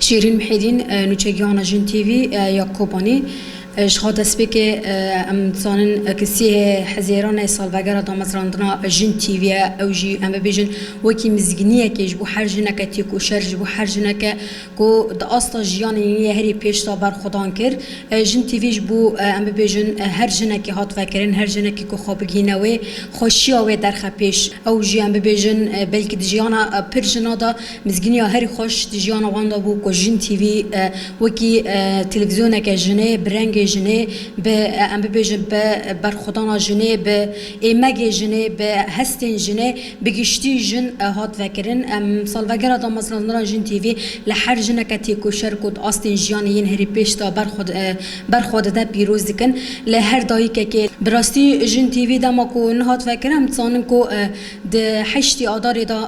Şîrîn Mihêdîn, nûçegihana Jin TV ya Kobanî, Ji xwe destpêkê em dizanin ku sihê Hezêran e salvegera damezrandina Jin TV ye, ew jî em bibêjin wekî mizgîniyekê ji bo her jineke têkoşer, ji bo her jineke ku di asta jiyanê yê yê herî pêş de berxwedan kir. Jin TV ji bo em bibêjin her jinekê hat vekirin, her jinekê ku xwe bigihîne wê, Xweşiya wê derxe pêş ew jî em bibêjin belkî di jiyana pir jina de mizgîniya herî xweş di jiyana wan de bû ku Jin TV wekî televîzyoneke jinê bi rengê jinê bi em bibêjin bi berxwedana jinê bi êmegê jinê bi hestên jinê bi giştî jin hat vekirin. Em salvegera damezrandina Jin TV li her jineke têkoşer ku di astên jiyanê yên herî pêş de ber xwe Ber xwe dide pîroz dikin li her dayikekê. Bi rastî Jin TV dema ku nin hat vekirin em dizanin ku di heştî Adarê de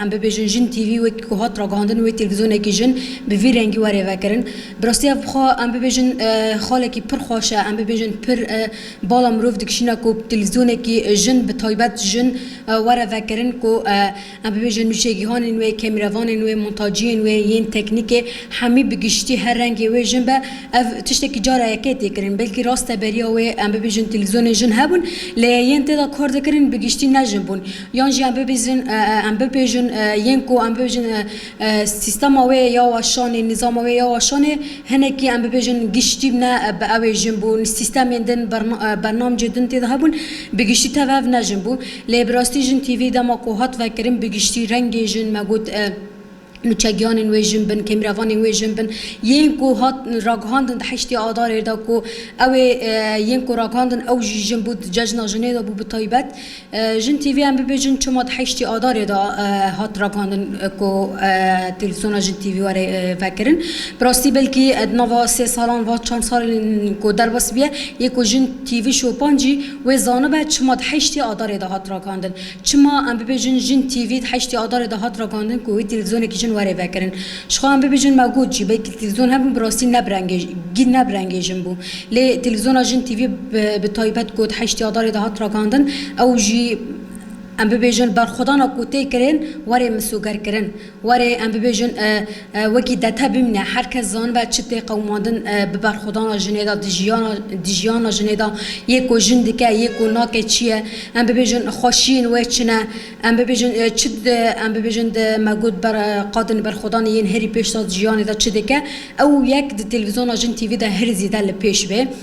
em bibêjin Jin TV wekî ku hat ragihandin wê têlvîzyonekî jin bi vî rengî were vekirin. Bi rastî ev xwe em bibêjin xalekî pir xweş e em bibêjin pir bala mirov dikişîne ku têlvîzyonekî jin bi taybet jin were vekirin ku Em bibêjin nûçegihanên wê, kemîrevanên wê, montaciyên wê yên teknîkê hemî bi giştî her rengê wê jin be. Ev tiştekî cara yekê tê kirin. Belkî rast e beriya wê em bibêjin televîzyonên jin hebûn lê yên tê de kar dikirin bi giştî ne jin bûn. Yan jî em bibêjin em bibêjin yên ku em bibêjin sîstema wê ya weşanê, nîzama wê ya weşanê hinekî em bibêjin giştî ne bi ew ê jin bûn. Sîstemên din, bernamcê din tê de hebûn bi giştî tev hev ne jin bû. Lê bi rastî jin TV dema ku hat vekirin bi giştî rengê jin me got nûçegiyanên wê jin bin, kêmrevanên wê jin bin yên ku hat ragihandin di heştê adarê de ku ew ê yên ku ragihandin ew jî jin bû di cejna jinê de bû bi taybet jin TV em bibê jin çima di heştê adarê de hat ragihandin ku televîzyona jin TV were vekirin bi rastî belkî di nava sê salan va çand salên ku derbas biye yê ku jin TV şopan jî Wê zanibe çima di heştê Adarê de hat rakandin. Çima em bibêjin Jin TV di heştê Adarê de hat rakandin ku wê televîzyonekî jin were vekirin. Jixwe em bibêjin me got jî belkî televîzyon hebû bi rastî nebirengêjin bû. Lê televîzyona Jin TV bi taybet ku di heştê Adarê de hat rakandin ew jî em bibêjin berxwedana ku tê kirin were misogerkirin Were em bibêjin wekî dete bimîne, her kes zanibe çi tê qewimandin bi berxwedana jinê de, di jiyana jinê de, yê ku jin dike, yê ku nake çi ye, em bibêjin xweşiyên wê çi ne, em bibêjin çi em bibêjin di me got ber qadên berxwedanê yên herî pêş de di jiyanê de çi dike, ew yek di televîzyona Jin TV de herî zêde li pêş bê.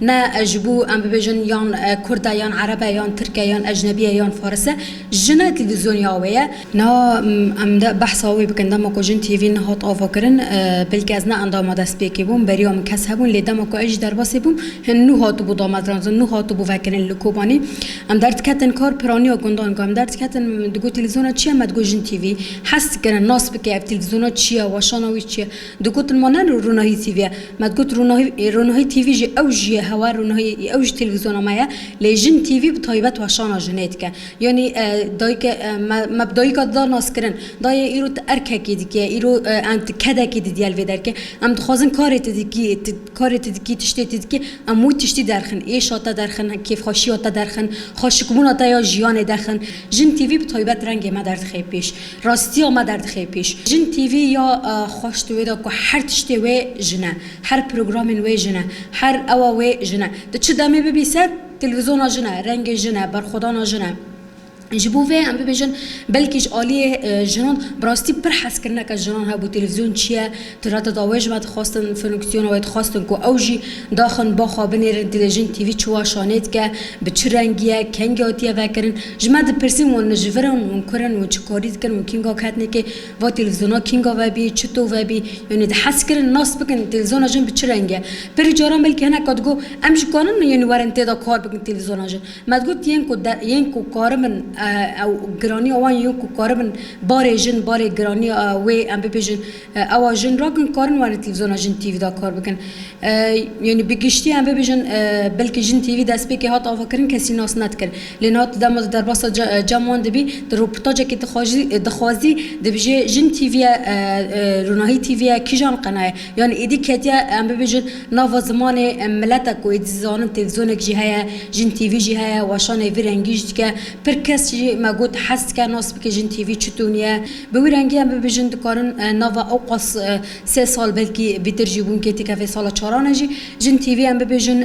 Ne ji bo em bibêjin yan kurd e yan ereb e yan tirk e yan ecnebî ye yan faris e, jin e televîzyonîya wê ye. Niha em dê behsa wê bikin, dema ku Jin TV nehat avakirin belkî ez ne endama destpêkê bûm, beriya min kes hebûn lê dema ku ez jî derbasê bûm hin nû hatibû damezrandin, nû hatibû vekirin li Kobanî. Em derdiketin kar piraniya gundan ku em derdiketin digot televîzyona çi ye me digot Jin TV. Hes dikirin nas bike ev televîzyona çi ye, weşana wî çi ye. Di ku tilma ne li Ronahî TV ye. Me digot Ronahî ê Ronahî TV jî ew jî ye hewa Ronahî ê ew jî televîzyona me ye. Lê Jin TV bi taybet weşana jinê dike. Yanî dayike me me bi dayika dida naskirin. Dayê îro tu erkekî dikî îro em tu kedekî didîye li vê derkê. Em dixwazin karê tu dikî tu karê tu dikî tiştê tu dikî em wî tiştî derxin. Êşa te derxin, kêfxweşiya te derxin, xweşikbûna te ya jiyanê derxin. Jin TV bi taybet rengê me derdixê pêş. Rastiya me derdixê pêş. Jin TV ya xweş di wê de ku her tiştê wê jin e. Her programên wê jin e. Her ewa wê jin e. Di çi demê bibî ser, televîzyona jin e, rengê jin e, berxwedana jin e. Ji bo vê em bibêjin belkî ji aliyê jinan bi rastî pir hezkirineke jinan hebû televîzyon çi ye, Di reta da wê jî me dixwestin funksiyona wê dixwestin ku ew jî daxin ba xwe binêrin telejin TV çi waşanê dike, bi çi rengî ye, kengî hatiye vekirin. Ji me dipirsîn wan li ji vir in, wan kur in, wan çi karî dikin, wan kînga ketine kê, va televîzyona kînga vebî, çi to vebî. Yanî di hez kirin nas bikin televîzyona jin bi çi rengî ye. Pirî caran belkî hineka digot em jî karin yanî werin tê de kar bikin televîzyona jin. Me digot yên ku de yên ku karibin ew giranîya wan yên ku karibin barê jin, barê giranîya wê em bibêjin, Ewa jin ra kin karin warê televîzyona Jin TV de kar bikin. Yanî bi giştî em bibêjin belkî Jin TV destpêkê hat avakirin kesî nas nedikir. Lê niha tu dema di derbasa cem wan dibî di rûportajekê dixwajî dixwazî dibijê Jin TV ye Ronahî TV ye kîjan qena ye? Yanî êdî ketiye em bibêjin nava zimanê miletek ku êdî dizanin televîzyonek jî heye, Jin TV jî heye, weşanê vî rengî jî dike. Pir kes jî me got hez dike nas bike Jin TV çi tûnî ye. Bi wî rengî em bibêjin dikarin nava ewqas sê sal belkî vîtir jî hûn kê tîkevê sala çaran e jî jin TV em bibêjin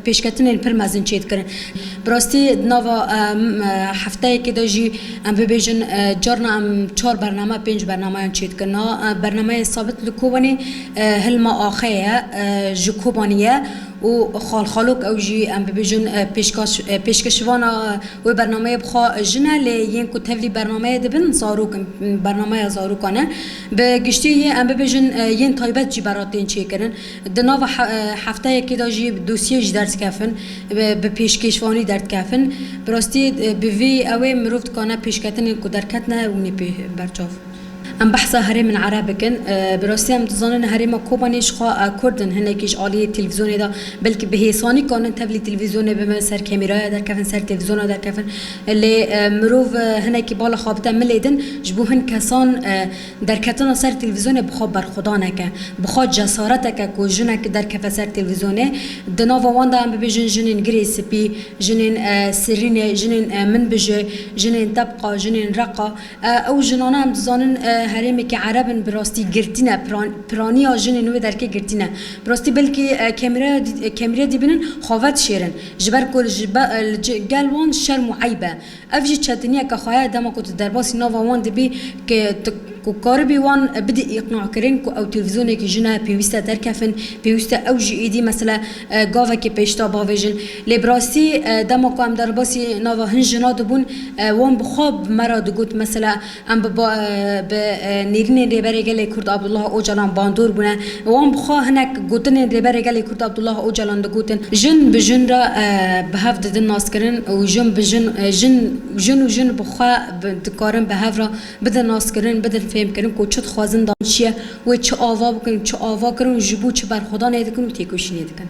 pêşketinên pir mezin çê dikirin. Bi rastî di nava hefteyekê de jî em bibêjin carna em çar bername pênc bernamayan çê dikirin. A bernameyê sabit li Kobanê Hilma Axayê ye ji Kobanî ye. û xal xalok ew jî em bibêjin pêşkêşvana wê bernameyê bi xwe jin e lê yên ku tevlî bernameyê dibin zarok in bernameya zarokan e bi giştî yê em bibêjin yên taybet jî berra tên çêkirin di nava hefteyekê de jî dosyeyê ji derdikevin bi pêşkêşvanî derdikevin bi rastî bi vî ew ê mirov dikane pêşketinên ku derketine hûnê pê berçav. Em behsa herêmên ereb bikin. Bi rastî em dizanin herêma Kobanê jixwe kurd in, hinekî ji aliyê televîzyonê de belkî bi hêsanî karin tevlî televîzyonê bibin, ser kemîraya derkevin, ser televîzyona derkevin. Lê mirov hinekî bala xwe bide milê din, ji bo hin kesan derketina ser televîzyonê bi xwe berxwedanek e. Bi xwe cesaretek e ku jinek derkeve ser televîzyonê. Di nava wan de em bibêjin jinên girê spî, jinên sirrînê, jinên min bijê, jinên tebqa, jinên reqa. Ew jinane em dizanin herêmekî ereb in bi rastî girtîne piraniya jinên wê derkê girtîne bi rastî belkî kemîrê dîbinin xave dişêrin ji ber ku li gel wan şerm û eyb e ev jî çetiniyeke xwe ye dema ku tu derbasî nava wan dibî ke tu ku karibî wan bidî îqnakirin ku ew televîzyonekî jine pêwîste derkefin pêwîste ew jî êdî mesela gavekê pêşda bavêjin. Lê bi rastî dema ku em derbasî nava hin jina dibûn wan bi xwe bi me re digot mesela em bi bi nêrînên Rêberê Gelê Kurd Abdullah Ocalan bandor bûne wan bi xwe hinek gotinên Rêberê Gelê Kurd Abdullah Ocalan digotin jin bi jin re bi hev didin naskirin û jin bi jin jin û jin bi xwe dikarin bi hev re Bidin naskirin, bidin fêmkirin ku çi dixwazin dan çi ye, wê çi ava bikin, çi ava kirin û ji bo çi berxwedanê dikin û têkoşînê dikin.